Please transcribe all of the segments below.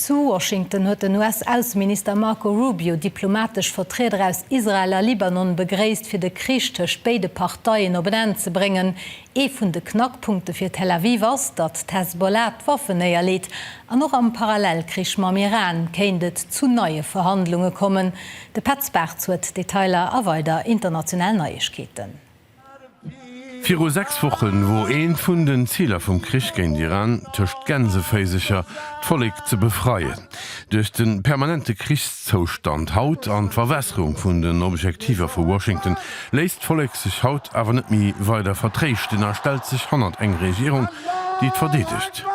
Zu Washington huet den US-Ausseminister Marco Rubio diplomatesch Vertrieder aus Israel a Libanon begréisst, fir de Krich tëscht béide Parteien op en Enn ze bréngen. Ee vun de Knackpunkte fir Tel Aviv ass, datt d'Hezbollah d'Waffen néierleet. An och am Parallelkrich mam Iran kéint et zu neie Verhandlunge kommen. De Petz Bartz huet d'Detailer a weider international Neiegkeeten. Viru sechs Woche wor eent vun den Ziler vum Krich géint Iran, tëscht Gänseféisecher, d'Vollek ze befreien. Duerch de permanente Krichszoustand haut an d'Verwässerung vun den Objektiver vu Washington, léisst d'Vollek sech haut awer net méi weider vertréischten a stellt sech hannert eng Regierung, déi et verdeedegt.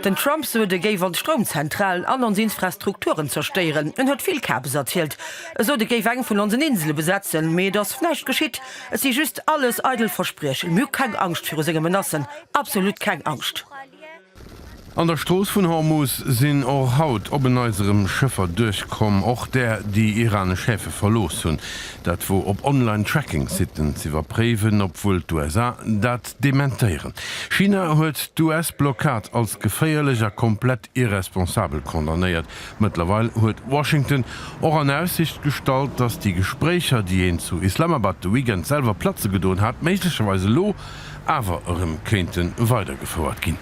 Den Trump sot, e géif ons Stroumzentralen an ons Infrastrukturen zerstéieren. En huet vill Kabes erzielt. E sot, e géif eng vun onsen Insele besetzen, mee et ass näischt geschitt. Et si just alles eidel Verspriechen. Mir hu keng Angscht viru senge Menacen, absolut keng Angscht. An der Strooss vun Hormus sinn och haut op en Neits erëm Schëffer duerchkomm, och där, déi iranesch Häfe verlooss hunn. Dat wor op Online-Tracking-Siten z'iwwerpréiwen, obwuel d'USA dat dementéieren. China huet d'US-Blockad als geféierlech a komplett irresponsabel condamnéiert. Mëttlerweil huet Washington och an Aussicht gestallt, datt déi Gespréicher, déi een zu Islamabad de Weekend selwer platze gedoen hat, méiglecherweis elo, awer erëm kéinte weidergefouert ginn.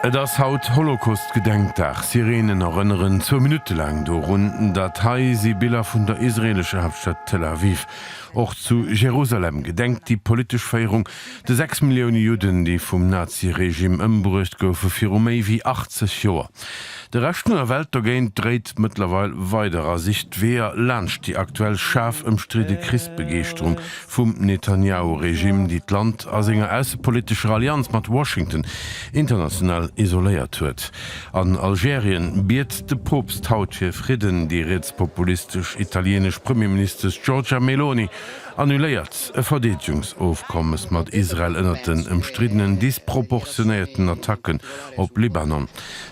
Et ass haut Holocaust-Gedenkdag. Sireenen erënneren zwou Minutte laang dorun. Dat hei si Biller vun der israeelescher Haaptstad Tel Aviv. Och zu Jerusalem gedenkt déi politesch Féierung de 6 Millioune Judden, déi vum Nazi-Regime ëmbruecht goufe viru méi wéi 80 Joer. De Rescht vun der Welt dogéint dréit mëttlerweil weider a sicht Weeër laanscht déi aktuell schaarf ëmstridde Krichsbegeeschterung vum Netanjahu-Regime, déi d'Land a senger aussepolitescher Allianz mat Washington international isoléiert huet. An Algerien biet de Poopst haut fir Fridden, déi rietspopulistesch italienesch Premierministesch Giorgia Meloni annuléiert e Verdeedegungsofkommes mat Israel ënnert den ëmstriddenen disproportionéierten Attacken op Libanon.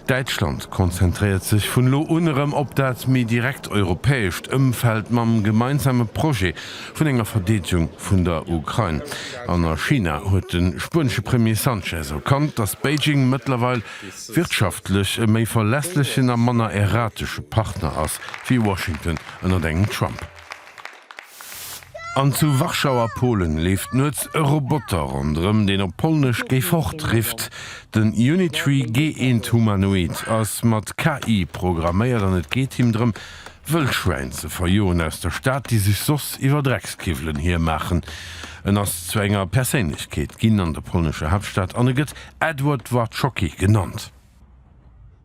Däitschland konzentréiert sech vun elo un erëm op dat méi direkt europäescht Ëmfeld mam gemeinsame Projet vun enger Verdeedegung vun der Ukrain. An a China huet de spuenesche Premier Sanchez erkannt, datt Beijing mëttlerweil wirtschaftlech e méi verlässlechen a manner erratesche Partner ass wéi Washington ënnert engem Trump. An zu Warschau a Polen leeft nuets e Roboter ronderëm, deen op Polnesch Geh fort! rifft. Den Unitree G-Eent Humanoid ass mat KI programméiert an et geet him drëm, Wëllschwäin ze verjoen aus der Stad, déi sech soss iwwer Dreckskiwwelen hiermaachen. En ass zu enger Perséinlechkeet ginn an der polnescher Haaptstad an e gëtt Edward Dworczocki genannt.